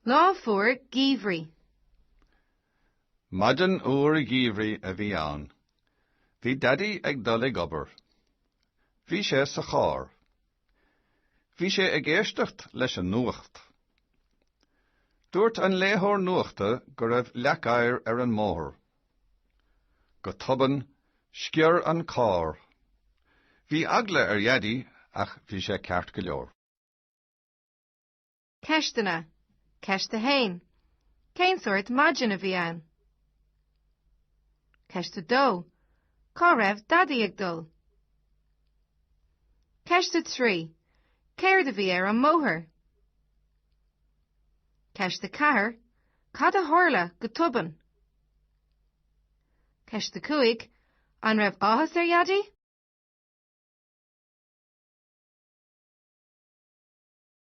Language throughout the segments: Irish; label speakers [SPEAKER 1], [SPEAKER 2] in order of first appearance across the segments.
[SPEAKER 1] Lá fuar geimhridh.
[SPEAKER 2] Maidin fhuar gheimhridh a bhí ann. Bhí Daidí ag dul ag obair. Bhí sé sa charr. Bhí sé ag éisteacht leis an nuacht. Dúirt an léitheoir nuachta go raibh leac oighir ar an mbóthar. Go tobann, sciorr an carr. Bhí eagla ar Dhaidí ach bhí sé ceart go leor.
[SPEAKER 1] Ceisteanna, Ceist 1. Cén sórt maidin a bhí ann? Ceist 2. Cá raibh Daidí ag dul? Ceist 3. Céard a bhí ar an mbóthar? Ceist 4. Cad a tharla go tobann? Ceist 5. An raibh áthas ar Dhaidí?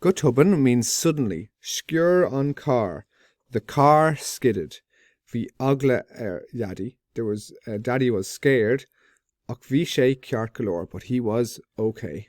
[SPEAKER 3] Go tobann means suddenly. Sciorr an carr. The car skidded. Bhí eagla ar Dhaidí. There was, Daddy was scared. Ach bhí sé ceart go leor. But he was OK.